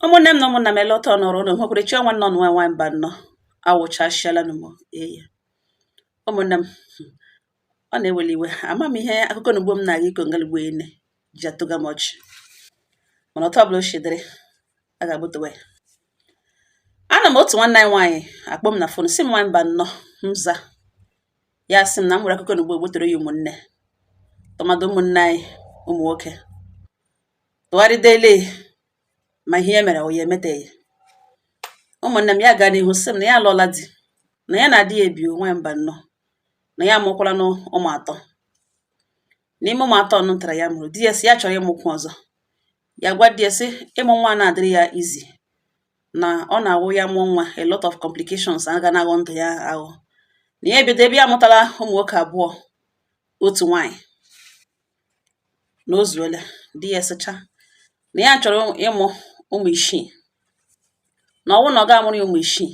ụmụnne m na ụmụnna m elọta ọnọrọ ụlọ nwekwere chi ọnwa nnọ nwa nwaanyị Mbanọ awụchasịala m eyi ụmụnne m ọ na-eweli iwe ama m ihe akụkọ na ugbo m na-aga ịkọ ngalugbo ene ji atọga m ọchị mana otu ọbụla o shi dịrị a ga-agbutewe ya anọ m otu nwanne anyị nwaanyị akpọ m na fon sị m nwaanyị Mbanọ m za ya sị m na m nwere akụkọ na ugbo egbutere ya ụmụnne tụmadụ ụmụnne anyị ụmụ nwoke tụgharịda ele ma ihe ya mere ọ ya emeteghị ụmụnne m ya gaa n'ihu sị m na ya alụọla di na ya na di ya ebi nwa Mbanọ na ya amụkwalanụ ụmụ atọ n'ime ụmụ atọ nụ tara ya mụrụ di ya sị ya chọrọ ịmụkwu ọzọ ya gwa di ya sị ịmụ nwa anaa adịrị ya easy na ọ na-awụ ya mụọ nwa a lot of complications a ga na-aghọ ndụ ya aghọ na ya ebido ebe ya amụtala ụmụ nwoke abụọ otu nwaanyị na o zuola di ya sịcha na ya chọrọ ịmụ ụmụ isii na ọ wụrụ na ọ gaa amụrụ ya ụmụ isii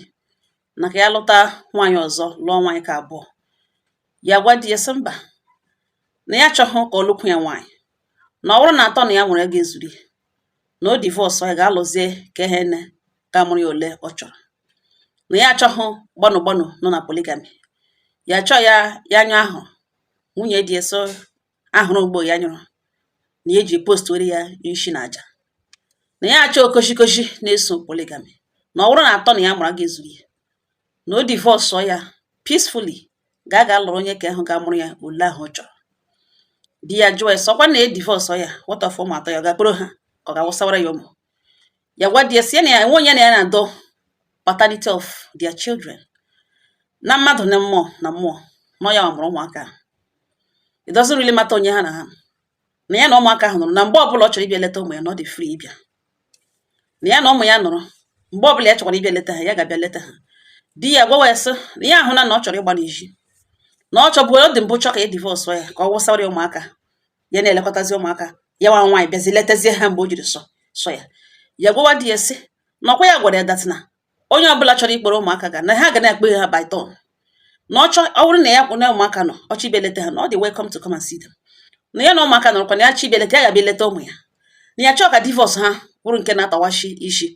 na ka ya lụta nwaanyị ọzọ lụọ nwaanyị ka abụọ ya gwa di ya sị mba na ya achọghị ka ọ lụkwu ya nwaanyị na ọ bụrụ na atọ na ya nwere agaa ezuru ya na o divorce ya gaa lụzie ka ahụ na ga-amụrụ ya ole ọ chọrọ na ya achọghị gbanụ gbanụ nọ na polygamy ya achọọ ya anya ahụ nwunye di eso ahụrụ mgbe ya nyụrụ na eji post were ya nshi na aja na ya achọọ okoshikoshi na-eso polygamy na ọ bụrụ na atọ na ya mụrụ agaa ezuru ya na o divọsụọ ya peacefully gaa ga lụrụ onye ka ahụ ga-amụrụ ya ole ahụ ọ chọrọ di ya jụọ ya sị ọkwa na ya divọsụọ ya what of ụmụ atọ ya ọ ga-akpọrọ ha ka ọ ga-awụsawara ya ụmụ ya gwa di ya sị na ya enwe onye na ya na-adọ paternity of their children na mmadụ na mmụọ na-ama na ọ ya mụrụ ụmụaka it doesn't really matter onye ha na ha na ya na ụmụaka ahụ nọrọ na mgbe ọbụla ọ chọrọ ịbịa leta ụmụ ya na ọ dị free ịbịa na ya na ụmụ ya nọrọ mgbe ọbụla ya chọkwara ịbịa leta ha ya ga-abịa leta ha di ya gwawa ya sị na ya ahụna na ọ chọrọ ịgba n'ezi na ọ chọbụ ọ dị mbụ chọ ka ya divorce ya ka ọ wụsara ya ụmụaka ya na-elekọtazi ụmụaka ya nwa nwaanyị bịazi letazie ha mgbe o jiri sọ sọ ya ya gwawa di ya sị na ọkwa ya gwara ya that na onye ọbụla chọrọ ịkpọrọ ụmụaka ga na ha ga na-akpọ ha by turn na ọ chọ ọ bụrụ na ya na ụmụaka nọ ọ chọọ ịbịa leta ha na ọ dị welcome to come and see them na ya na ụmụaka nọrọkwa na ya chọọ ịbịa leta ya ga-abịa leta ụmụ ya na ya achọọ ka divorce ha bụrụ nke na-atawashi isi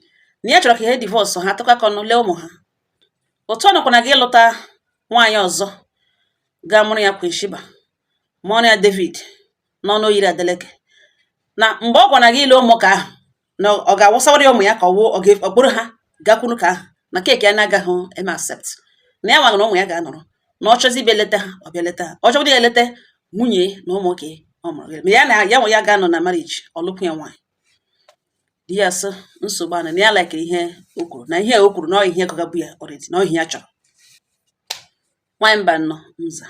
na ya chọrọ ka ha divorce ha tụkọ aka ọnụ lee ụmụ ha otu ọ nọkwa na ga ịlụta nwaanyị ọzọ ga-amụrụ ya Queen Sheba mụọrọ ya David n'ọnụ oyiri Adeleke na mgbe ọ gwara gị ile ụmụaka ahụ na ọ ga-awụsawara ya ụmụ ya ka ọ wụọ ọ ga-akpọkọrọ ha gakwuru ka ahụ na keeki ya na-agaghị eme accept na ya nwa na ụmụ ya ga-anọrọ na ọ chọzi ịbịa leta ha ọ bịa leta ha ọ chọbụrụ ya eleta nwunye na ụmụ ka ọ mụrụ ma ya na ya nwe ya ga-anọ na marriage ọ lụkwuo ya nwaanyị di ya sị nsogbu anụ na ya laikiri ihe o kwuru na ihe o kwuru na ọ ihe gụgabu ya already na ọ ihe ya chọrọ nwaanyị mba nnọ nza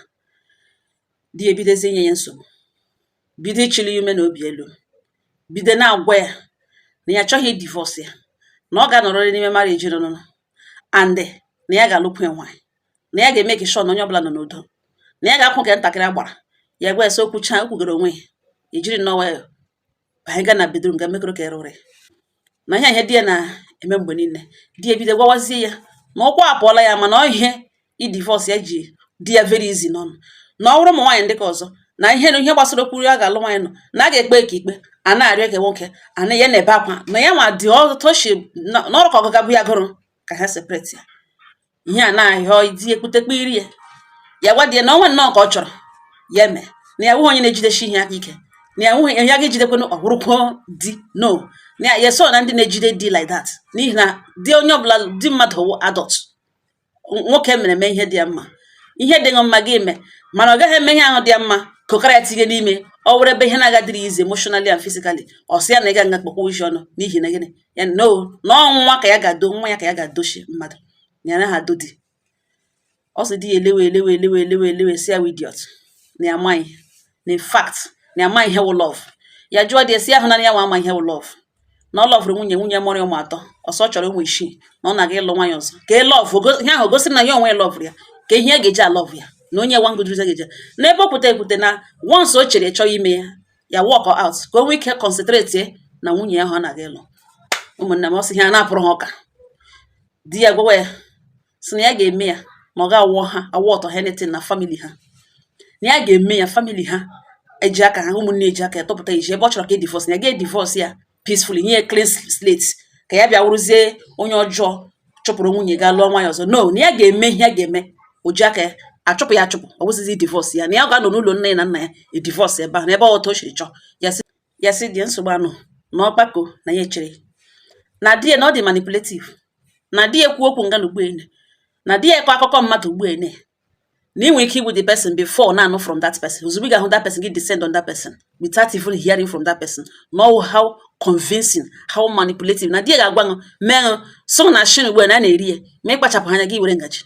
di ya ebidozie inye ya nsogbu bido ịchịli ya ume na obi elu bido na-agwa ya na ya achọghị idivorce ya na ọ ga-anọrịrị n'ime marriage ọnụnọ and na ya ga-alụkwu ya nwaanyị na ya ga-emake sure na onye ọbụla nọ n'udo na ya ga-akwụ nke ntakịrị agbara ya gwa ya sị o kwuchaa o kwugoro onwe ya ejiri nnọọ nwayọọ anyị gaa na bedroom ga mekọrọ ka ere ụra ya na ihe ihe di ya na-eme mgbe niile di ya bido gwawazie ya na ụkwụ apụọla ya mana ọ ihe idivorce ya ji dị ya very easy n'ọnụ na ọ bụrụ ụmụ nwaanyị ndị ka ọzọ na ihe na ihe gbasara okwu ya ga-alụ nwaanyị nọ na a ga-ekpe ka ikpe a na-arịọ ka nwoke a na ya na-ebe akwa na ya nwa dị ọtọchi n'ọrụ ka ọ gụgabu ya gụrụ ka ha separate ya ihe a na-ahịa ọ itinye kputekpe iri ya ya gwa di ya na ọnwa nnọọ ka ọ chọrọ ya eme na ya awụghị onye na-ejidesi ihe aka ike na ya nwụghị ya ga-ejidekwana ọ wụrụkwa di no na ya ya so na ndị na-ejide di like that n'ihi na di onye ọbụla di mmadụ wụ adult nwoke mere eme ihe dị ya mma ihe dị gị mma gị eme mana ọ gaghị eme ihe ahụ dị ya mma kokara ya tinye n'ime ọ were ebe ihe na-agadịrị easy emotionally and physically ọ sị ya na ị ga nga kpọkwa uche ọnụ n'ihi na gịnị ya na ọnwa ka ya ga-ado nwa ya ka ya ga-adochi mmadụ ya na ha adọ di ọ sị di ya elewe sị ya idiot na ya amaghị na in fact na ya amaghị ihe wụ love ya jụọ di ya sị ahụ na ya nwa ama ihe wụ love na ọ lọvụrụ nwunye nwunye mụrụ ụmụ atọ ọ sị ọ chọrọ ụmụ isii na ọ na-aga ịlụ nwaanyị ọzọ kee love ihe ahụ gosiri na ya onwe lọvụrụ ya ka ihe a ga-eji alọvụ ya na o nye ya one good reason ga-eji n'ebe ọ pụta ekwute na once o chere chọọ ime ya ya walk out ka o nwee ike concentrate na nwunye ya ahụ ọ na-aga ịlụ ụmụnne m ọ sị ihe a na-apụrụ ha ụka di ya gwawa ya sị na ya ga-eme ya na ọ ga-awọ ha awọ ọtọ anything na family ha na ya ga-eme ya family ha eji aka ha ụmụnne eji aka ya tọpụta iji ebe ọ chọrọ ka e divorce ya ga-edivorce ya peacefully nye clean slate ka ya bịa wụrụzie onye ọjọọ chụpụrụ nwunye ga lụọ nwaanyị ọzọ no na ya ga-eme ihe ya ga-eme o ji aka ya achụpụ ya achụpụ ọ bụzi idivorce ya na ya ga-anọ n'ụlọ nne ya na nna ya edivorce ebe ahụ n'ebe ọtọ o siri chọọ ya sị di nsogbu anụ na ọgbakọ na ya echere na di ya na ọ dị manipulative na di ya ekwu okwu nga na ugbuene na di ya ekwe akụkọ mmadụ ugbuene na ị nwere ike igbu the person before na-anụ from that person ozugbo ị ga-ahụ that person gị descend on that person without even hearing from that person know how convincing how manipulative na di ya ga-agwa ṅụ mee ṅụ so na nshị ugbu a na a na-eri ya ma ị kpachapụghị anya gị were ngaji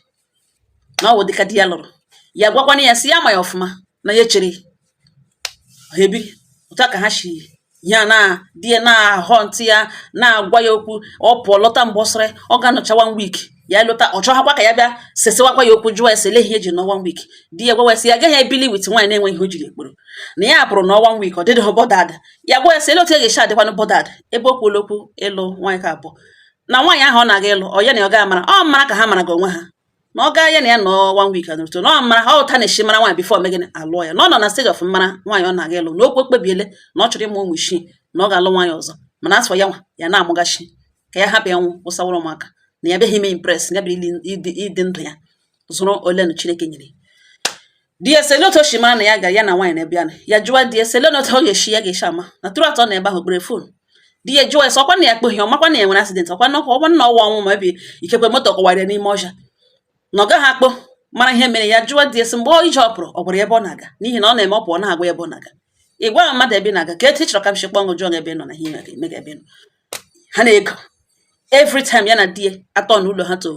na ọ wụ dịka di ya lụrụ ya gwakwana ya sị ya ma ya ọfụma na ya chere ha ebi otu a ka ha si ya na di ya na-ahọ ntị ya na-agwa ya okwu ọ pụọ lọta mgbe ọ sịrị ọ ga-anọcha one week ya lọta ọ chọghakwa ka ya bịa sesewakwa ya okwu jụọ ya sị ele ihe e ji nọ one week di ya gwa ya sị ya agaghị ebili with nwaanyị na-enweghị ihe o jiri ya kpọrọ na ya pụrụ nọ one week ọ dịdịghị bothered ya gwa ya sị ele otu ya ga-esi adịkwanụ bothered ebe o kwuola okwu ịlụ nwaanyị ke abụọ na nwaanyị ahụ ọ na-aga ịlụ ọ ya na ọ ga-amara ọ mara ka ha mara gị onwe ha na ọ gaa ya na ya nọ one week anụrụto na ọ maraha otu a na-esi amara nwaanyị before e mee gịnị a lụọ ya na ọ nọ na stage of ịmara nwaanyị ọ na-aga ịlụ na okwu ekpebiele na ọ chọrọ ịmụ ụmụ isii na ọ ga-alụ nwaanyị ọzọ mana a sị ọ ya nwa ya na-amụghachi ka ya hapụ ịnwụ wụsawara ụmụaka na ya abịaghị ime impress ya bịara ịdị ndụ ya zụrụ ole na Chineke nyere di ya sị ele otu o si mara na ya gara ya na nwaanyị n'ebe ya nọ ya jụwa di ya sị ele na otu ọ ga-esi ya ga-esi ama na tụrụ atọ na ebe ahụ kpere phone di ya jụwa ya sị ọkwa na ya akpọghị ọ makwa na ya nwere accident ọkwa na ọkwa na ọwa ọnwụ maybe ikekwe moto kọwara ya n'ime ọhịa na ọ gaghị akpọ mara ihe mere ya jụwa di ya sị mgbe ọ ije ọ pụrụ ọ gwara ya ebe ọ na-aga n'ihi na ọ na-eme ọ pụọ na-agwa ya ebe ọ na-aga ị gwaghị mmadụ ebe ị na-aga ka etu ị chọrọ ka m si kpọọ ngụ jụọ ebe ị nọ na ihe ị ga-eme gị ebe ị nọ ha na-argue every time ya na di ya a turn ụlọ ha to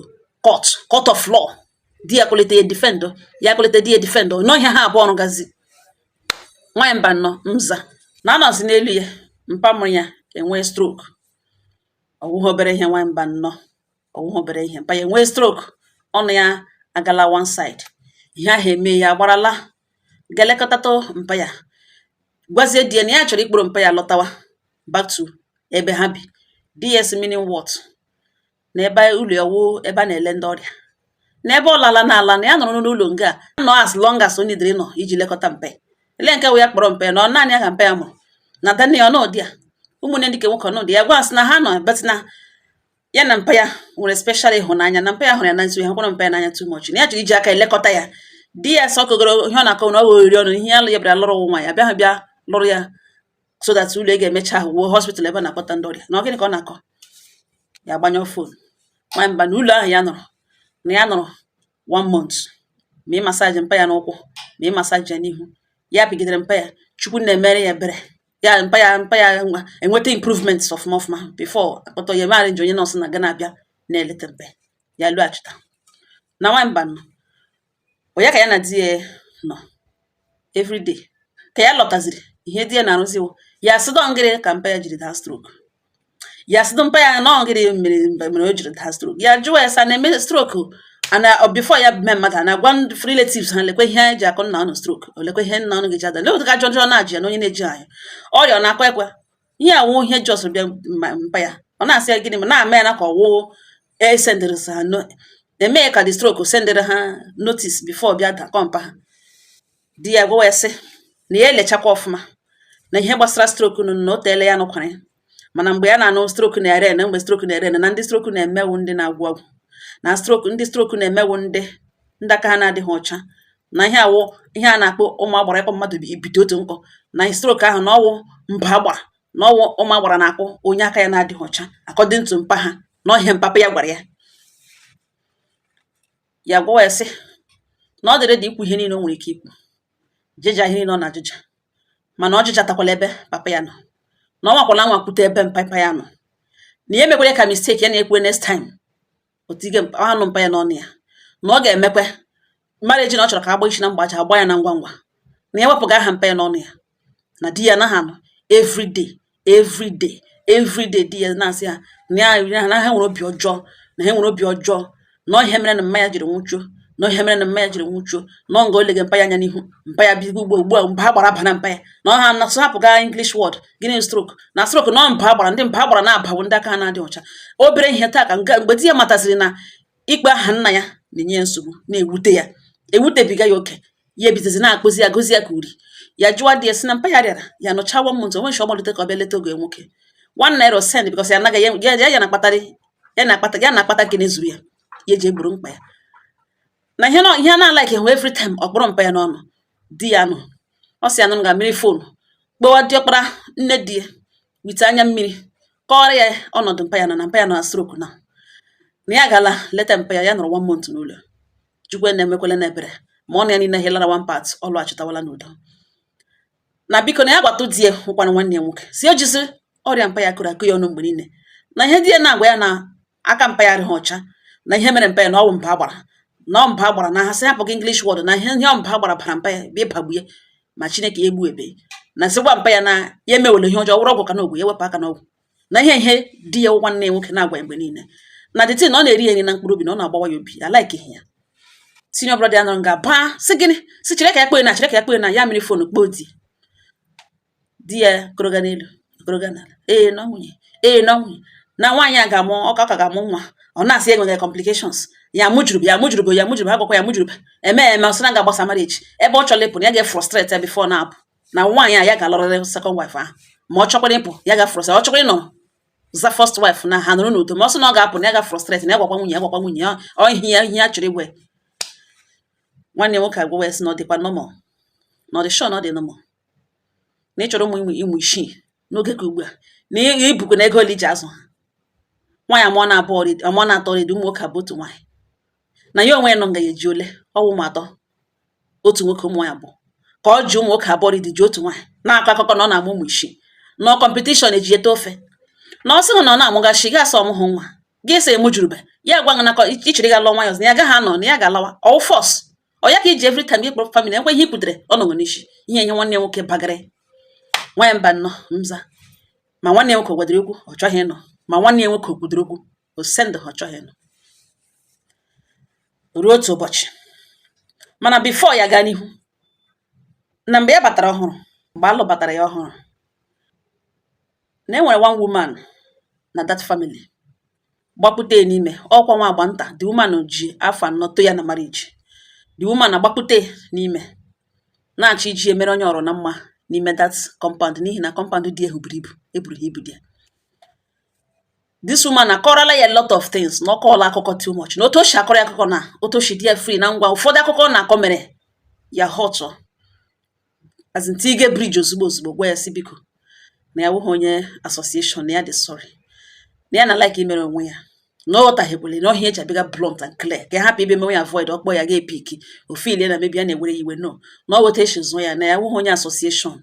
court court of law di ya kulite ya defend ya kulite di ya defend nọ ihe ha abụọ ọrụ gazi nwaanyị Mbanọ m sị na a nọzi n'elu ya mpa mụrụ ya enwee stroke ọ wụghị obere ihe nwaanyị Mbanọ ọ wụghị obere ihe mpa ya enwee stroke ọnụ ya agala one side ihe ahụ eme ya agbarala ga lekọtatụ mpa ya gwazie di ya na ya chọrọ ịkpọrọ mpa ya lọtawa back to ebe ha bi di ya sị meaning what na ebe ụlọ ya wụ ebe a na-ele ndị ọrịa na ebe ọ lala na ala na ya nọrọ n'ụlọ nga a nọ as long as onye dịrị nọ iji lekọta mpa ya ele nke wụ ya kpọrọ mpa ya na ọ naanị ya ka mpa ya mụrụ na adanne ya ọ nọdụ ya ụmụnne ndị ke nwoke ọ nọdụ ya gwa ya sị na ha nọ but na ya na mpa ya nwere special ịhụnanya na mpa ya hụrụ ya n'anya so ya hụkwara mpa ya n'anya too much na ya chọrọ iji aka elekọta ya di ya sị ọ kọgoro ihe ọ na-akọ na ọ oriri ọnụ ihe ya lụ ya bịara lụrụ nwa ya bịa ha bịa lụrụ ya so that ụlọ ga-emecha ahụ wụọ hospital ebe a na-akpọta ndị ọrịa na ọ gịnị ka ọ na-akọ ya agbanyụ phone nwa Mbanọ ụlọ ahụ ya nọrọ na ya nọrọ one month ma ịmassage mpa ya n'ụkwụ ma ịmassage ya n'ihu ya pịgidere mpa ya Chukwu na-emere ya ebere ya mpa ya mpa ya nwa enweta improvement ọfụma ọfụma before akpọtọ ya maara nji onye nurse na-aga na-abịa na-eleta mpa ya lọghachita na nwa Mbanọ Ọ ya ka ya na di ya nọ everyday ka ya lọtaziri ihe di ya na-arụzi wụ ya sị nọ ngịrị ka mpa ya jiri daa stroke ya sị mpa ya nọ ngịrị mere mgbe mere o jiri daa stroke ya jụwa ya sị a na-eme stroke a na before ya mee mmadụ a na-agwa ndị relatives ha lekwe ihe anyị ji akụ nna ụnụ stroke o lekwe ihe nna ụnụ ga-eji ada lekwe ka ajụjụ ọ na-ajị ya na onye na-eji anyị ọrịa ọ na-akụ ekwe ihe a wụ ihe just bịa mpa ya ọ na-asị ya gịnị ma na-ama ya na ka ọwụ e sendịrị ha na-eme ka the stroke sendịrị ha notice before bịa dakọ mpa ha di ya gwawa ya sị na ya elechakwa ọfụma na ihe gbasara stroke nụ na o teela ya nụkwara ya mana mgbe ya na-anụ stroke na-ereign mgbe stroke na-ereign na ndị stroke na-eme wụ ndị na-agwọ ọgwụ na stroke ndị stroke na-eme wụ ndị ndị aka ha na-adịghị ọcha na ihe a wụ ihe a na-akpọ ụmụ agbara ịkpọ mmadụ bi ibite otu nkọ na stroke ahụ na ọwụ mba agbara na ọwụ ụmụ agbara na-akpọ onye aka ya na-adịghị ọcha according to mpa ha na ọ ihe mpapa ya gwara ya ya gwawa ya sị na ọ dị ready ikwu ihe niile o nwere ike ikwu jịja ihe niile ọ na-ajụja mana ọ jụjatakwala ebe papa ya nọ na ọ nwakwala nwakwute ebe mpapa ya nọ na ya mekwere ka mistake ya na-ekwu next time o tige mpa aha nụ mpa ya n'ọnụ ya na ọ ga-emekwe marriage na ọ chọrọ ka agba isi na mgbacha agba ya na ngwa ngwa na ya wepụga aha mpa ya n'ọnụ ya na di ya anaghị anọ everyday everyday everyday di ya na-asị ya na ya na ha nwere obi ọjọọ na ha nwere obi ọjọọ na ọ ihe mere na mma ya jiri nwụchuo na ọ ihe mere na mma ya jiri nwụchuo na ọ nga o lega mpa ya anya n'ihu mpa ya bigo ugbo ugbu a mba agbara abana mpa ya na ọ ha na-asị hapụga English word gịnị stroke na stroke na ọ mba agbara ndị mba agbara na-aba wụ ndị aka na-adịghị ọcha obere ihe taa ka mgbe di ya mataziri na ịkpọ aha nna ya na-enye ya nsogbu na-ewute ya ewutebiga ya oke ya ebidozi na-akpụzi ya gụzi ya ka uri ya jụwa di ya sị na mpa ya rịara ya nọcha one month o nwe chi ọ malite ka ọ bịa leta ọgọ ya nwoke one naira send because ya anaghị ya ya na-akpatara ya na-akpata ya na-akpata nke na-ezuru ya ya eji egboro mkpa ya na ihe na ihe a na-alikehụ every time ọ kpụrụ mpa ya n'ọnụ di ya nụ ọ sị ya nọ nga wiri phone kpọwa diọkpara nne di ya with anya mmiri kọọrọ ya ọnọdụ mpa ya nọ na mpa ya nọ na stroke na na ya gala leta mpa ya ya nọrọ one month n'ụlọ Chukwu na-emekwele na ebere ma ọ na ya niile healara one part ọ lọghachitawala n'udo na biko na ya gwatụ di ya wụkwanụ nwanne ya nwoke sị o jizi ọrịa mpa ya kọrọ akọ ya ọnụ mgbe niile na ihe di ya na-agwa ya na aka mpa ya adịghị ọcha na ihe mere mpa ya na ọwụ mba agbara na ọ mba agbara na ha sị hapụga English word na ihe ihe mba agbara bara mpa ya bịa ịbagbu ya ma Chineke ya egbubehi na sị gwa mpa ya na ya emewele ihe ọjọọ ọ wụrụ ọgwụ ka ọ na-agwọ ya wepụ aka n'ọgwụ na ihe ihe di ya wụ nwanne ya nwoke na-agwa ya mgbe niile na the thing na ọ na-eri ya nri na mkpụrụ obi na ọ na-agbawa ya obi I like ihe ya senior brother ya nọrọ nga baa sị gịnị sị chere ka ya kpee na chere ka ya kpee na ya mịrị fon kpọọ di di ya kọrọga n'elu kọrọga n'ala ee na nwunye ee na nwunye na nwaanyị a ga-amụ ọ ka ọ ka ga-amụ nwa ọ na-asị enweghị complications ya mụjuru ya mụjuru ya mụjuru ha gwakwa ya mụjuru eme eme ọ sị na ọ ga-agbasa marriage ebe ọ chọrọ ịpụ na ya ga-efrustrate ya before na-apụ na nwaanyị a ya ga-alụrịrị second wife ahụ ma ọ chọkwara ịpụ ya ga frustrate ọ chọkwara ịnọ as first wife na ha nọrọ n'udo ma ọ sị na ọ ga-apụ na ya ga frustrate na ya gwakwa nwunye ya gwakwa nwunye ya ọ ihe ya ihe ya chọrọ ịgwa nwanne nwoke agwawa ya sị na ọ dịkwa normal na ọ dị sure na ọ dị normal na ị chọrọ ụmụ ịmụ ịmụ isii n'oge ka ugbu a na ị- i bukwanụ ego ole i ji azụ ha nwaanyị amụọna abụọ already amụọna atọ already ụmụ nwoke abụọ otu nwaanyị na ya onwe ya nọ nga ya eji ole ọ wụ ụmụ atọ otu nwoke ụmụ nwaanyị abụọ ka ọ ji ụmụ nwoke abụọ already ji otu nwaanyị na-akọ akụkọ na ọ na-amụ ụmụ isii na competition e ji ete ofe na ọ sịghị na ọ na-amụgachi gị asọ ọmụhụ nwa gị sị mụjurube ya gwa gị nakọ ị chọrọ ịga lụọ nwaanyị ọzọ na ya gaghị anọ na ya ga-alawa ọ wụ force ọ ya ka i ji every time ịkpọrọ famili ekwuo ihe ikwutere ọ nọgo n'isi ihe ihe nwanne nwoke bagara nwaanyị mba nnọọ mza ma nwanne nwoke kwadoro okwu ọ chọghị ịnụ ma nwanne ya nwoke kwadoro okwu o sendị ha chọghị ịnụ ruo otu ụbọchị mana before ya gaa n'ihu na mgbe ya batara ọhụrụ mgbe a lụbatara ya ọhụrụ na e nwere one woman na that family gbakpute n'ime ọkwa nwa agbọ nta the woman ji afọ anọ tọọ ya na marriage the woman agbakpute n'ime na-achọ iji ya mere onye ọrụ na mma n'ime that compound n'ihi na compound ndị ahụ buru ibu e buru ha ibu dị ya this woman akọrọla ya a lot of things na ọ kọọla akụkọ too much na otu o si akọrọ ya akụkọ na otu o si dị ya free na ngwa ụfọdụ akụkọ na-akọ mere ya họtụ as in tinye bridge ozugbo ozugbo gwa ya sị biko na ya wụghị onye association na ya dị sorry na ya na like imere onwe ya na ọ ghọtahiekwala na ọ ihe ya ji abịaga blunt and clear ka ya hapụ ịbịa mewe ya avoid ọ kpọọ ya agaghị epiki ọ feelie na maybe ya na-ewere ya iwe no na ọ weta echi zụọ ya na ya wụghị onye association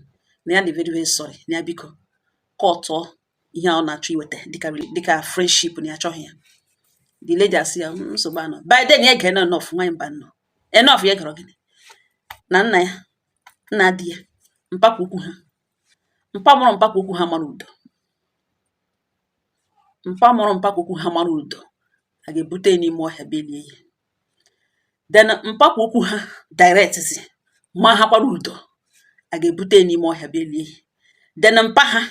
na ya dị very very sorry na ya biko kọtụọ ihe a ọ na-achọ iweta dịka dịka friendship na ya achọghị ya the lady asị ya "Mm, nsogbu anọghị by then ya gere enough nwaanyị mba nnọọ enough ya gere gịnị na nna ya nna di ya mpapa ukwu ha mpa mụrụ mpapa ukwu ha mara ụdọ mpa mụrụ mpapa ukwu ha mara ụdọ a ga-ebute ya n'ime ọhịa belie ya then mpapa ukwu ha direct si makwara ụdọ a ga-ebute ya n'ime ọhịa belie ya then mpa ha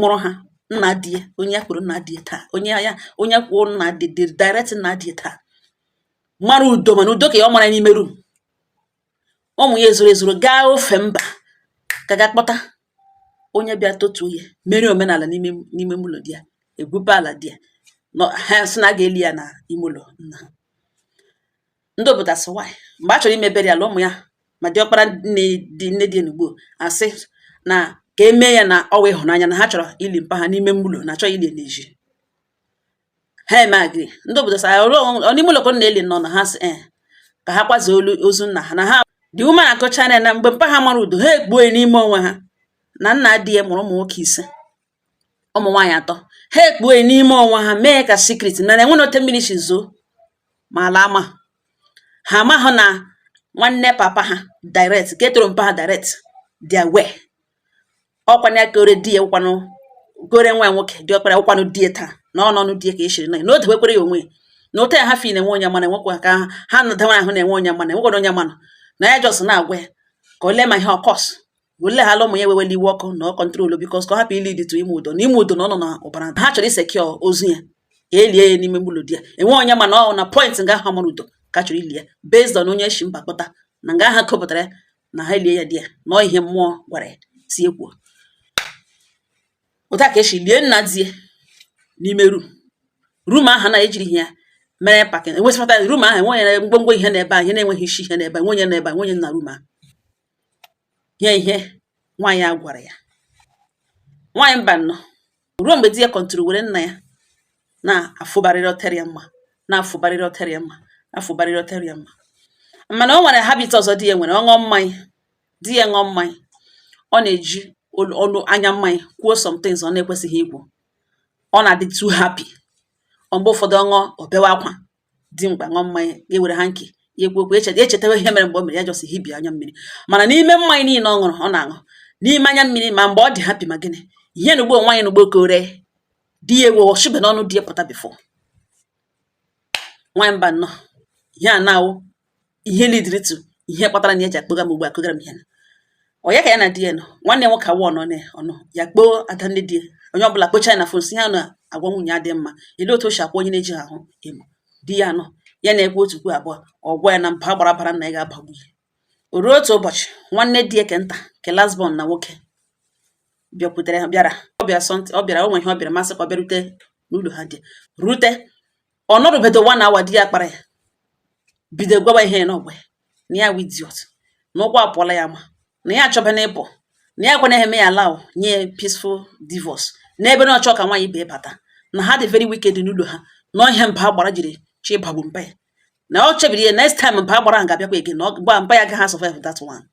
mụrụ ha nna di ya onye ya kwuru nna di ya taa onye ya onye kwuo nna di di direct nna di ya taa mara ụdọ mana ụdọ ka ya ọ mara n'ime rum ụmụ ya ezoro ezoro gaa ofe mba ka ga kpọta onye bịa tọtuo ya mere omenala n'ime n'ime ụlọ di ya egwupe ala di ya nọ ha sị na a ga-eli ya na ime ụlọ nna ha ndị obodo asị nwaanyị mgbe a chọrọ imebere ya ala ụmụ ya ma diọkpara nne dị nne dị enugbo asị na ka e mee ya na ọ wụ ịhụnanya na ha chọrọ ili mpa ha n'ime ụlọ na achọghị ili n'ezi ha emee agree ndị obodo sị n'ime ụlọ ka ọ na-eli nọ na ha si e ka ha kwazie olu ozu nna ha na ha dị ume na akọcha na na mgbe mpa ha mara ụdọ ha ekpuo n'ime onwe ha na nna di ya mụrụ ụmụ nwoke ise ụmụ nwaanyị atọ ha ekpuo n'ime onwe ha mee ka secret na enwe na ote mmiri si zoo ma ala ama ha amaghị na nwanne papa ha direct ka etoro mpa ha direct di ya wee ọkwana ya kore di ya ụkwanụ gore nwa nwoke diọkpara ụkwanụ di ya taa na ọ n'ọnụ di ya ka e shiri nụ ya na o debekwere ya onwe ya na ote ya ha fi na-enwe onye mana enwekwa ka ha ha nọdewara ahụ na-enwe onye mana enwekwana onye mana na ya jọs na-agwa ya ka o lee ma ihe ọ kọs wele ha ụmụ ya ewewele iwe ọkụ na ọ kọntrolu bikos ka ọ hapụ ili dịtụ ịma ụdọ na ịma ụdọ na ọ nọ na ọbara ha chọrọ isekio ozu ya ka elie ya n'ime mgbulu di ya enwe onye ma na ọ na point nga ha mara ụdọ ka chọrọ ili ya based on onye shi mba kpọta na nga ha kopụtara ya na ha elie ya di ya na ọ ihe mmụọ gwara ya si ekwuo otu a ka e si lie nna di ya n'ime rum rum ahụ na ejiri ihe ya mere pakin enwesịpụta rum ahụ enwe onye ngwongwo ihe n'ebe ahụ ihe na-enweghị isi ihe n'ebe enwe onye n'ebe enwe onye na rum ahụ gee ihe nwaanyị a gwara ya nwaanyị Mbanọ ruo mgbe di ya kọntụrụ were nna ya na-afụbarịrị ọtere ya mma na-afụbarịrị ọtere ya mma na-afụbarịrị ọtere ya mma mana o nwere habit ọzọ di ya nwere ọ ṅụọ mmanya di ya ṅụọ mmanya ọ na-eji olu ọnụ anya mmanya kwuo some things ọ na-ekwesịghị ikwu ọ na-adị too happy mgbe ụfọdụ ọ ṅụọ ọ bewe akwa dimkpa ṅụọ mmanya ya were ha nke ya ekwu okwu echeta echetawa ihe mere mgbe o mere ya jọsị hibia anya mmiri mana n'ime mmanya niile ọ ṅụrụ ọ na-aṅụ n'ime anya mmiri ma mgbe ọ dị happy ma gịnị ihe na ugbo nwaanyị na ugbo kore di ya ewe o shibe n'ọnụ di ya pụta before nwaanyị Mbanọ ihe a na-awụ ihe lidiri to ihe kpatara na ya ji akpọga m ugbu a kụgara m ihe na ọ ya ka ya na di ya nọ nwanne ya nwoke awụ ọnọ na ọnọ ya kpọọ ada nne di ya onye ọbụla kpọchaa ya na fon si ya na agwa nwunye ya dị mma ele otu o si akwa onye na-eji ha ahụ emo di ya nọ ya na-ekwu otu kwuo abụọ ọ gwa ya na mba gbara bara na ya ga-abagbu ya o ruo otu ụbọchị nwanne di ya ke nta ke last born na nwoke bịakwutere ha bịara ọ bịara something ọ bịara o nwe ihe ọ bịara masị ka ọ bịarute n'ụlọ ha dị rute ọ nọrụbedo one hour di ya kpara ya bido gwaba ihe na ọ gwa ya na ya wụ idiot na ụkwụ apụọla ya ma na ya achọbana ịpụ na ya ekwe na-eme ya allow nye peaceful divorce n'ebe na ọ chọ ka nwaanyị ibe bata na ha dị very wicked n'ụlọ ha na ihe mba agbara jiri chọ ịbagbu mpa ya na ọ chebiri ya next time mba agbara ahụ ga-abịakwa again ọ ba mpa ya agaghị survive that one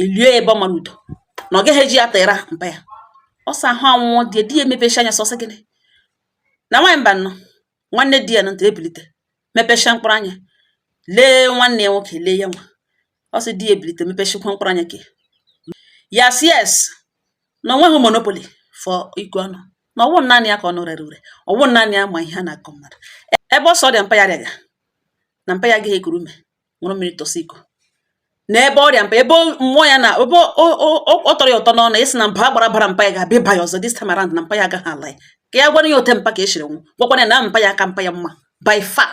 e lie ya ebe ọ mara ụdọ na ọ gaghị eji ya tera mpa ya ọ sị ahụ anwụọ di di ya emepecha anya sọsị gịnị na nwaanyị mba nnọ nwanne di ya na ntị ebilite mepecha mkpụrụ anya lee nwanne ya nwoke lee ya nwa ọ sị di ya ebilite mepechakwa mkpụrụ anya ke ya sị yes na o nweghị monopoly for ịkọ ọnụ na ọ wụ naanị ya ka ọnụ rere ure ọ wụ naanị ya ma ihe a na-akọ mmadụ ebe ọ sọ ọrịa mpa ya rịaga na mpa ya agaghị ekuru ume ṅụrụ mmiri tọsị iko n'ebe ọrịa mpa ebe mmụọ ya na ebe ọ tọrọ ya ụtọ n'ọnụ ịsị na mba agbara bara mpa ya ga-abịa ịba ya ọzọ this time around na mpa ya agaghị ala ya ka ya gwara ya otu mpa ke ya shiri nwụ gwakwana ya na mpa ya aka mpa ya mma by far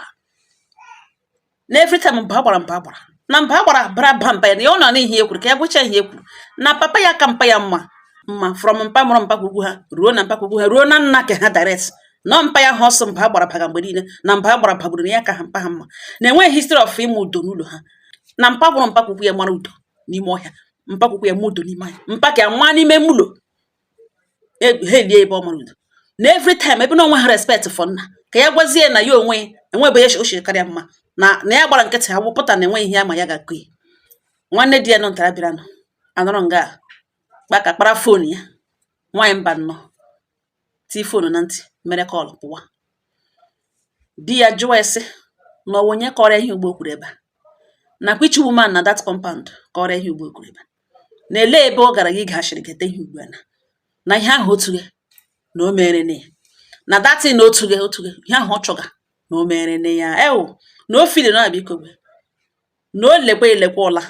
na every time mba agbara mba agbara na mba agbara bara ba mpa ya na ya ọ nọ n'ihe ya kwuru ka ya gwacha ihe kwuru na papa ya aka mpa ya mma mma from mpa mụrụ mpa kwukwu ha ruo na mpa kwukwu ha ruo na nna ke ha direct nọ mpa ya ha ọ sọ mba agbara baga mgbe niile na mba agbara bagburu na ya ka ha mpa ha mma na enweghị history of ịma ụdọ n'ụlọ ha na mpa mụrụ mpa kwukwu ya mara ụdọ n'ime ọhịa mpa kwukwu ya ma ụdọ n'ime ahịa mpa ka ya nwa n'ime mụlọ ha elie ebe ọ mara ụdọ na every time ebe na o nwehụ respect for nna ka ya gwazie na ya onwe enwebe ya ochie karịa mma na na ya gbara nkịtị ha wụpụta na enweghị ihe ya ma ya ga-akọ ya nwanne di ya nọ ntara bịara nọ anọrọ nga kpaka kpara fon ya nwaanyị mba nnọọ tii fonu na ntị mere call pụwa di ya jụọ ya sị na ọ wụ onye kọrọ ihe ugbu o kwuru ebe a na which woman na that compound kọrọ ihe ugbu o kwuru ebe a na ele ebe ọ gara ige ashịrị gete ihe ugbu a na na ihe ahụ otu gị na o mere na ya na that thing na otu gị otu gị ihe ahụ ọ chọga na o mere na ya ewu na o fili na abịa ikogbe na o lekwa elekwa ụla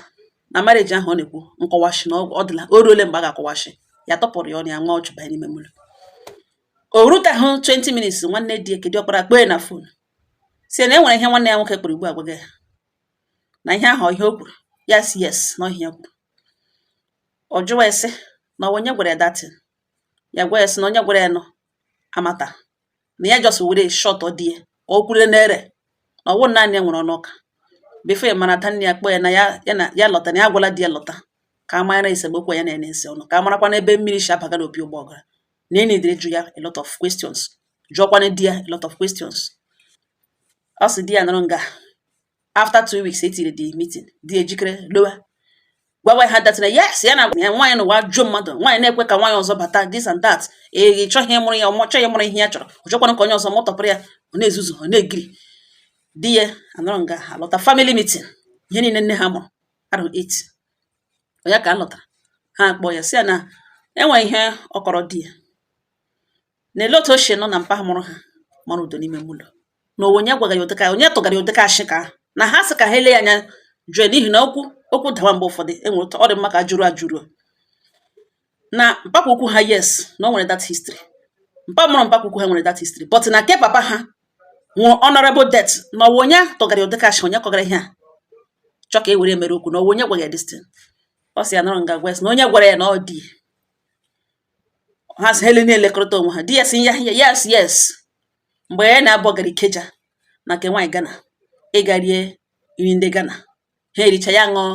na marriage ahụ ọ na-ekwu nkọwashi na ọ dịla o ruole mgbe a ga-akọwashi ya tọpụrụ ya ọnụ ya nwa ọ chụbanye n'ime mụlọ o rutehụ 20 minutes nwanne di ya ke dị ọkpara kpọ ya na fon sị na e nwere ihe nwanne ya nwoke kpọrọ ugbu a gwaga ya na ihe ahụ ihe o kwuru ya sị yes na ọ ihe ya kwuru ọ jụwa ya sị na onye gwara ya that thing ya gwa ya sị na onye gwara ya nọ amata na ya just were shot ọ die ka ọ kwure n'ere na ọ wụ naanị ya nwere ọnụ ọka before ya mara tanne ya kpọ ya na ya ya na ya lọta na ya agwala di ya lọta ka a mara esemokwu ya na-ene ese ọnụ ka a marakwa n'ebe mmiri si abaga n'opi ụgbọgụrụ na ya needịrị ịjụ ya a lot of questions jụọkwana di ya a lot of questions ọ sị di ya nọrọ nga after two weeks etiri the meeting di ejikere lọwa gwawa ha that na yes ya na ya nwaanyị n'ụwa jụọ mmadụ nwaanyị na-ekwe ka nwaanyị ọzọ bata this and that ị chọghị ịmụrụ ya ọmọchọ ya mụrụ ihe ya chọrọ ọ chọkwara ka onye ọzọ mụtọpụrụ ya ọ na-ezuzu ọ na-egiri di ya anọrọ nga ha lọta family meeting ihe niile nne ha mụrụ arụ eight onye ka a lọtara ha akpọ ya sị ya na enwe ihe ọ kọrọ di ya Elee otu o si nụ na mpa mụrụ ha mara ụdọ n'ime ụlọ na ọ wụ onye gwara ya ụdịka onye tụgara ya ụdịka ashị ka ahụ na ha sị ka ha ele ya anya jụọ n'ihi na okwu okwu dawa mgbe ụfọdụ e nwere ụtọ ọ dị mma ka a jụrụ ajụrụ na mpapa ukwu ha yes na o nwere that history mpa mụrụ mpapa ukwu ha nwere that history but na nke papa ha nwụrụ honorable death na ọ wụ onye tụgara ya ụdịka ashị onye kọgara ihe a chọ ka e were mere okwu na ọ wụ onye gwara ya this thing ọ sị ya nọrọ nga gwa ya sị na onye gwara ya na ọ dị ha sị ha ele na-elekọrịta onwe ha di ya sị ya ya yes yes mgbe ya na Abụ gara Ikeja na nke nwaanyị Ghana ịga rie nri ndị Ghana ha ericha ya ṅụọ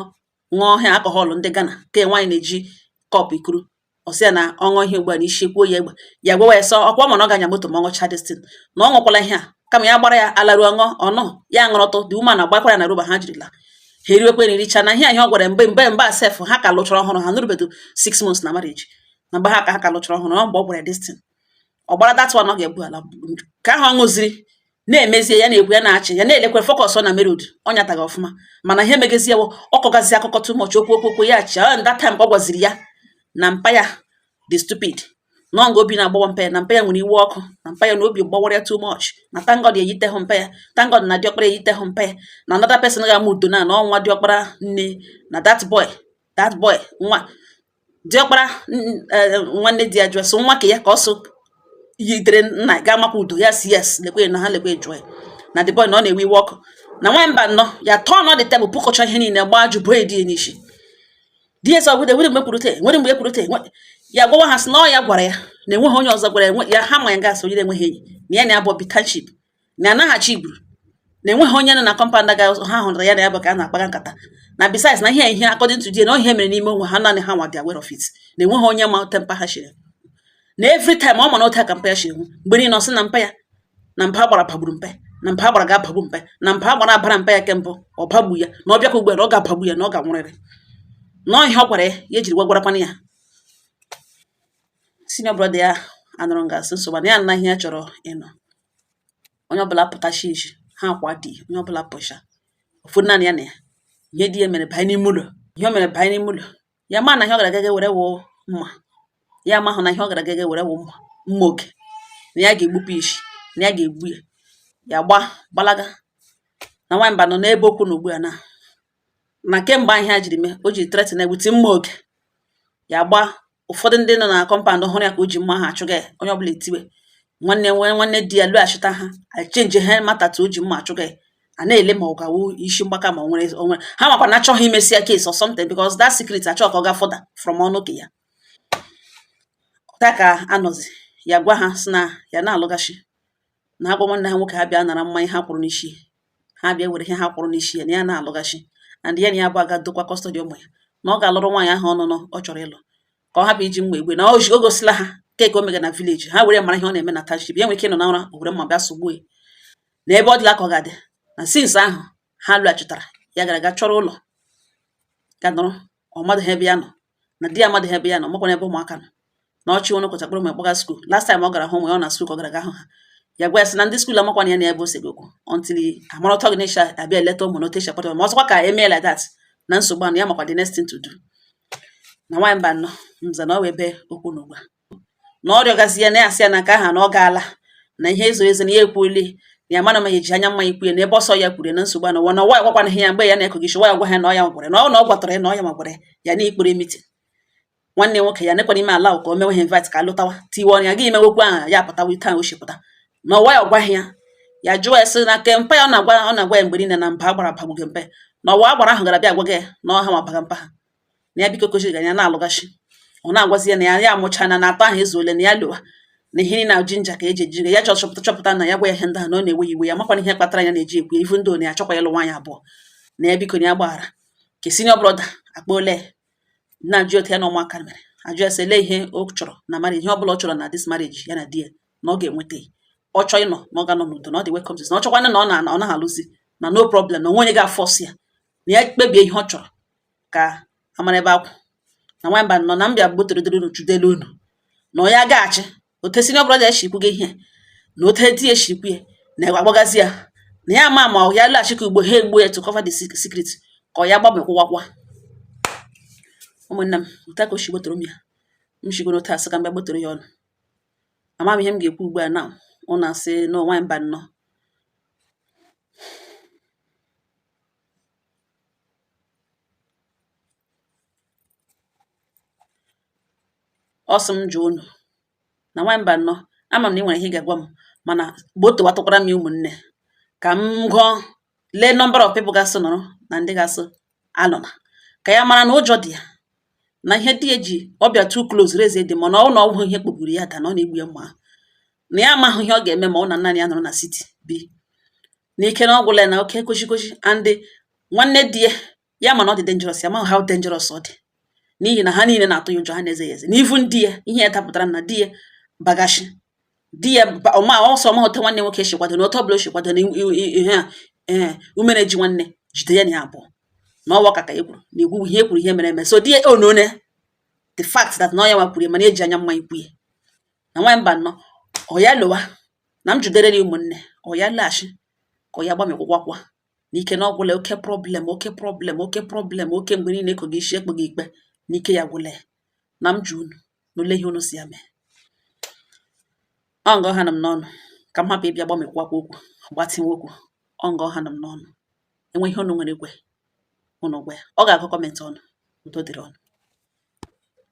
ṅụọ ha alcohol ndị Ghana nke nwaanyị na-eji cup ekuru ọ sị ya na ọ ṅụọ ihe ugbu a na isi kwuo ya egbe ya gwawa ya sị ọkwa ma na ọ ga-anya moto ma ọ ṅụcha this thing na ọ ṅụkwala ihe a kama ya gbara ya alaru ọṅụ ọnụ ya ṅụrụtụ the woman agbakwara na roba ha jirila ha eriwekwe na ericha na ihe anyị ọ gwara mgbe mgbe mgbe a sef ha ka lụchara ọhụrụ ha nụrụbedo six months na marriage na mgbe ha ka ha ka lụchara ọhụrụ ọ mgbe ọ gwara this thing ọ gbara that one ọ ga-ebu ala ka ahụ ọ ṅụziri na-emezie ya na-ekwu ya na-achị ya na-elekwe focus na main road ọ nyataghị ọfụma mana ihe megezie ọ kọgazi akụkọ too much okwu okwu okwu ya achị ọ that time ọ gwaziri ya na mpa ya dị stupid nọ nga obi na-agbawa mpa ya na mpa ya nwere iwe ọkụ na mpa ya na obi gbawara ya too much na thank God eyitehụ mpa ya thank God na diọkpara eyitehụ mpa ya na another person ga-ama ụdọ na na ọ nwa diọkpara nne na that boy that boy nwa diọkpara eh, nwanne di ya jụọ so nwa ka ya ka ọ so yitere nna ga-amakwa ụdọ ya sị yes lekwe na ha lekwe jụọ ya na the boy na ọ na-ewe iwe ọkụ na nwamba nnọọ ya turn the table pụkọcha ihe niile gbaa jụ bụ edi ya n'isi ds ọgwụde nwere mgbe kwurute nwere mgbe e kwurute ya gwawa ha sị na ọ ya gwara ya na enweghị onye ọzọ gwara ya ha ma ya gasị onye enweghị enyi na ya na abụ bitanship na anaghachi igburu na enweghị onye nọ na compound ha hụrụ ya na ya bụ ka a na-akpaga nkata na besides na ihe ihe according to na ihe mere n'ime onwe ha naanị ha nwa dị aware of it na enweghị onye ma temper ha chiri na every time ọ ma na otu aka mpa ya chiri mgbe niile ọ sị na mpa ya na mba agbara bagburu mpa ya na mba agbara ga-abagbu mpa ya na mba agbara abara mpa ya kembụ ọ bagbu ya na ọ bịakwa ugbu a na ọ ga-abagbu ya na ọ ga-anwụrịrị na ọ ihe ọ gwara ya ya ejiri gwagwarakwana ya senior brother ya anọrọ nga sị nsogbu na ya na ihe ya chọrọ ịnụ onye ọbụla pụta shishi ha akwa di onye ọbụla pụcha ọ fọ naanị ya na ya ihe di ya mere banye n'ime ụlọ ihe o mere banye n'ime ụlọ ya amahụ na ihe ọ gara gaga were wụ mma ya amahụ na ihe ọ gara gaga were wụ mma mma oge na ya ga-egbupụ isi na ya ga-egbu ya ya gba gbalaga na nwa mbanọ na ebe ọ kwụ na ugbu a na na kemgbe ihe a jiri mee o ji threaten egbuti mma oge ya gba ụfọdụ ndị nọ na compound hụrụ ya ka o ji mma aha achụga ya onye ọbụla etiwe nwanne nwee nwanne di ya lọghachita ha echenji ha matatu o ji mma achụga ya a na-ele ma ọ gawo isi mgbaka ma o nwere onwe ha makwa na achọghị imesi ya case or something because that secret achọ ka ọ gaa further from ọnụ ka ya ta ka anọzi ya gwa ha sị na ya na-alụghachi na ha gwa nwanne ha nwoke ha bịa nara mmanya ha kwụrụ n'isi ha bịa were ihe ha kwụrụ n'isi ya na ya na-alụghachi and ya na ya bụ aga dokwa custody ụmụ ya na ọ gaa lụrụ nwaanyị ahụ ọnụnụ ọ chọrọ ịlụ ka ọ hapụ iji mma egbu na o gosila ha keke o mega na village ha were mara ihe ọ na-eme na township ya nwere ike ịnọ na ụra were mma bịa sogbuo ya na ebe ọ dịla ka ọ ga-adị na since ahụ ha lọghachitara ya gara aga chọrọ ụlọ ga nọrọ ọ madịgha ebe ya nọ na di ya amadịgha ebe ya nọ makwana ebe ụmụaka nọ na ọchị onye kwụcha kpọrọ ma kpọga skuul last time ọ gara hụ ụmụ ya ọ na skuul ka ọ gara aga hụ ha ya gwa ya sị na ndị skuul amakwana ya na ebe o sebe okwu until amara ọtọ gị na-echa abịa eleta ụmụ na ọ teacher kpọtara ma ọzọkwa ka emee like that na nsogbu anụ ya amakwa the next thing to do na nwa mbanọ nza na ọ wụ ebe ọ kwụ n'ugbua na ọ rịọgazi ya na ya asị ya na nke aha na ọ gaala na ihe ezo ezo na ya ekwuole na ya mana ma ya eji anya mma ikwu ya na ebe ọsọ ya kwuru na nsogbu na ụwa na ọwa ya gwakwana ihe ya mgbe ya na-ekogichi wa ya gwa ha na ọ ya gwara na ọ na ọ gwatara ya na ọ ya magwara ya na ikpere meeting nwanne nwoke ya nekwana ime ala ka o mewe ha invite ka ha lọtawa tiwe ọnụ ya gị imewekwu aha ya pụtawa ite ahụ o shipụta na ọwa ya ọ gwaghị ya ya jụọ ya sị na nke mpa ya ọ na-agwa ọ na-agwa ya mgbe niile na mba agbara bagbuge mpe na ọ wụ agbara ahụ gara bịa agwa gị ya na ọha ma baga mpa ha na ya biko kwesịrị ga ya na-alụghachi ọ na-agwazi ya na ya ya amụchaana na atọ ahụ ezuole na ya lụwa na ihe na jinja ka eji ejiri ya chọchọpụta chọpụta na ya gwa ya ihe ndị ahụ na ọ na-ewe iwe ya makwana ihe kpatara ya na-eji ekwu ivu di ya achọkwa ịlụ nwaanyị abụọ na ya biko na ya gbaghara ka senior brother akpa ole na-ajụ otu ya na ụmụaka mere ajụ ya sị ele ihe ọ chọrọ na marriage ihe ọ bụla ọ chọrọ na this marriage ya na di ya na ọ ga-enweta ọ chọọ ịnọ na ọ ga-anọ n'udo na ọ dị welcome na ọ chọkwana na ọ na ọ naghị alụzi na no problem na o nwe onye ga-afọs ya na ya kpebie ihe ọ chọrọ ka a mara ebe a kwụ na nwa mbanọ na m bịa gbotorodoro unu chudelu unu na ọ ya gaghachi ote senior brother eshikwu gị ihe na ote di eshikwu ya na agbagazi ya na ya ama ma ya laghachi ka ugbua ha egbu ya to cover the secret ka ọ ya gbanwe kwụwakwa ụmụnne m otu a ka o shi gbotoro m ya m shigoro otu asị ka m bịa gbotoro ya ụnụ ama m ihe m ga-ekwu ugbu a na ụnụ asị na nwa mbanọ ọ sị m jụọ unu na nwaanyị Mbanọ ama m na ị nwere ihe ị ga-agwa m mana gbotowatụkwara m ya ụmụnne ka m gụọ lee number of people ga-asị nọrọ na ndị ga-asị alụna ka ya mara na ụjọ dị ya na ihe di ya ji ọbịa too close reze dị mana ọ wụ na ọgwụ ihe kpọgburu ya da na ọ na-egbu ya mma na ya amaghị ihe ọ ga-eme ma ọ wụ na nna ya nọrọ na city bi na ike na ọgwụla na oke kwesịkwesị and nwanne di ya ya ma na ọ dị dangerous ya ma how dangerous ọ dị n'ihi na ha niile na-atụ ya ụjọ ha na-eze ya eze even di ya ihe ya tapụtara na di ya gbagashi di ya ọma ọsọ ma ote nwanne nwoke chikwado na otu ọbụla o chikwado na ihe a ee umere ji nwanne jide ya na ya abụọ na ọwa ka ka e kwuru na egwu ihe e kwuru ihe mere eme so di ya onone oh, the fact that na ọ ya nwa kwuru ya mana eji anya mma ikwu ya na nwaanyị Mbanọ ọ ya lọwa na m jụdere ya ụmụnne ọ ya laghachi ka ọ ya gbamịkwụkwakwa n'ike na ọ gwụla oke problem oke problem oke problem oke mgbe niile ekoghị isi ekpeghị ikpe n'ike ya gwụla ya na m jụ unu na ole ihe unu sị ya mee ọ nga ọ hana m n'ọnụ ka m hapụ ịbịa gbamịkwụkwakwa okwu gbatịwa okwu ọ nga ọ hana m n'ọnụ e nwee ihe unu nwere ikwu unu gwa ya ọ ga-agụ comment unu udo dịrị unu